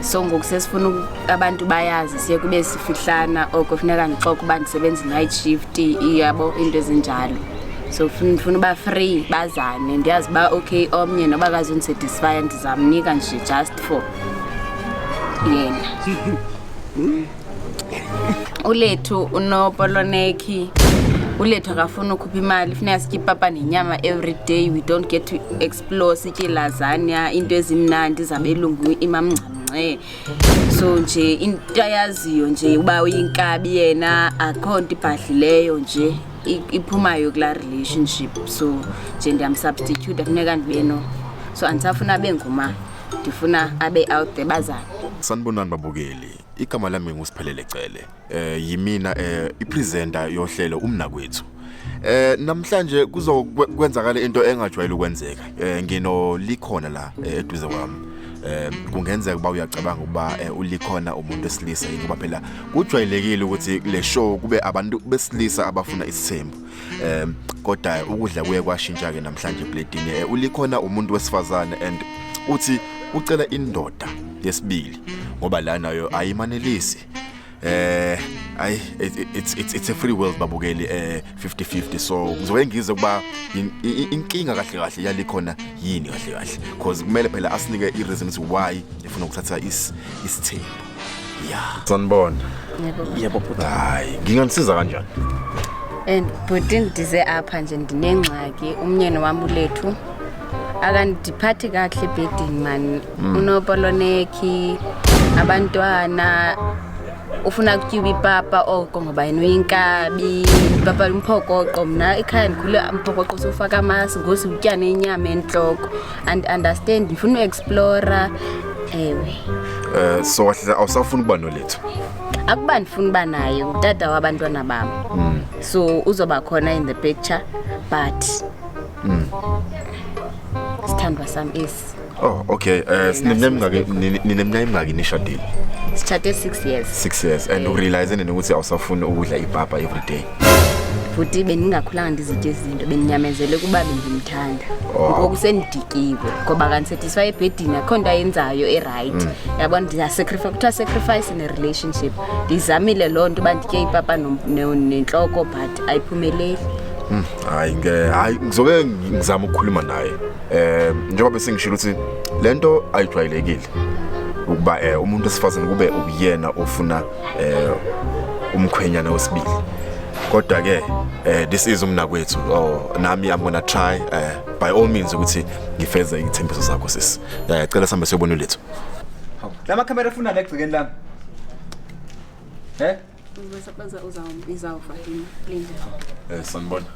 so ngoku sesifuna abantu bayazi siye kube sifihlana oko funeka ndixoka uba ndisebenza i-night shift iyabo into ezinjalo so ndifuna uba free bazane ndiyazi uba okay omnye noba kazondisatisfya ndizamnika nje just for yena ulethu unopolonekhi ulethu akafuni ukhupha imali funeka sitye ipapa nenyama every day we don't get to ex lo sitye lasagna into ezimnandi zabelungu imamngcamngce so nje into ayaziyo nje uba uyinkabi yena akho nto ibhadlileyo nje i- iphumayo kulaa relationship so nje ndiyamsubstitute funeka ndibe no so andisafuna abe nguma ndifuna abe out there bazane Sanibonani babukeli. Igama lami nguSiphelele Cele. eh yimina eh ipresenter yohlelo umnakwethu eh namhlanje kuzokwenzakala into engajwayele ukwenzeka eh ngino likhona la eh, eduze kwami eh kungenzeka uba uyacabanga ukuba eh, ulikhona umuntu esilisa yini ngoba phela kujwayelekile ukuthi le show kube abantu besilisa abafuna isithembu eh kodwa ukudla kuye kwashintsha ke namhlanje platini eh, ulikhona umuntu wesifazane and uthi ucela indoda yesibili ngoba la nayo ayimanelisi eh ayi it's it's it's a free world babukeli eh 50 50 so ngizoke ngize kuba inkinga kahle kahle yalikhona yini kahle kahle because kumele phela asinike i reasons why efuna ukuthatha is isithembu yeah sanibona yebo bhuti hayi nginganisiza kanjani and bhuti ndize apha nje ndinengxaki umnyeni wami ulethu akandiphathi kakuhle ebhedini mani mm. unopolonekhi abantwana ufuna kutyuba ipapa oko ngoba yena uyinkabi ipapa limphokoqo mna ekhaya ndikhule mphokoqo sofaka amasi ngosi utya nenyama entloko and understand ndifuna uexplora ewe um so wahlala awusafuni ukuba nolethu akuba ndifuna uba naye ngutata wabantwana bam mm. so uzoba khona in the picture but Mm. Sithandwa sami esi. Oh, okay. Eh sineminyaka nineminyaka imingaki nishadile? Sithathe 6 years. 6 years and u realize nini ukuthi awusafuni ukudla ipapa every day? futhi bendingakhulanga ndizitye izinto bendinyamezele kuba bendimthanda oh. ngoku sendidikiwe ngoba kandisethiswa ebhedini akho nto ayenzayo erayithi mm. yabo ndiyasacrifice kuthiwa sacrifice in a relationship ndiyizamile loo nto uba nditye ipapa nentloko but ayiphumeleli mm. hayi ke hayi ngizoke ngizama ukukhuluma naye eh njengoba bese ngishilo ukuthi lento ayijwayelekile ukuba eh umuntu esifazane kube uyena ofuna eh umkhwenyana wesibili kodwa ke eh this is umnakwethu oh nami i'm gonna try eh by all means ukuthi ngifeze ithembiso zakho sis eh cela sambe siyobona lethu lama camera funa legcikeni lami eh Ngizosebenza uzawubiza uFatima. Linda. Eh sanibona.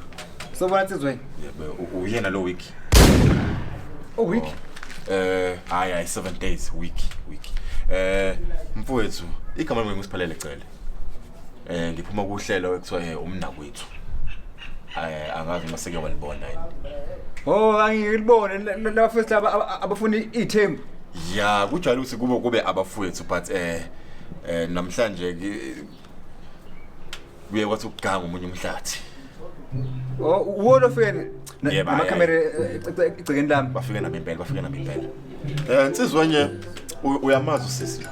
Sobona sizweni. Yebo u- uyena lo week. Oh week. Eh hayi hayi 7 days week week. Eh mfowethu igama lami ngisiphalele cele. Eh ngiphuma kuhlelo ekuthiwa eh, umnakwethu. Eh angazi uma seke walibona yini. Oh angilibone laba first laba abafuna ithembu. Ya kujwayele ukuthi kube kube abafowethu but eh eh namhlanje kuye kwathi ukuganga umunye umhlathi oh wona feni nama camera egcekeni lami bafike nami impela bafike nami impela eh insizwa nje uyamazi usisi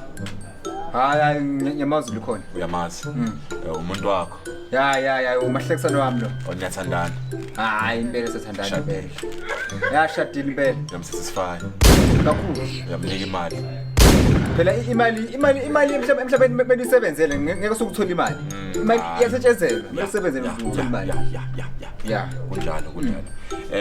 hayi hayi ngiyamazi likhona uyamazi hmm. eh, umuntu wakho ya ya ya umahlekisani wami lo Oh, niyathandana hayi impela sethandana Shadile. impela yashadile impela uyamsatisfya kakhulu uyamnika imali phela i- imali imali imali emhlab- emhlabeni me- mele uyisebenzele nge- ngeke sukuthola imali imali iyasetshenzela mele usebenzele ukuze uthole imali ya ya ya ya ya kunjalo kunjalo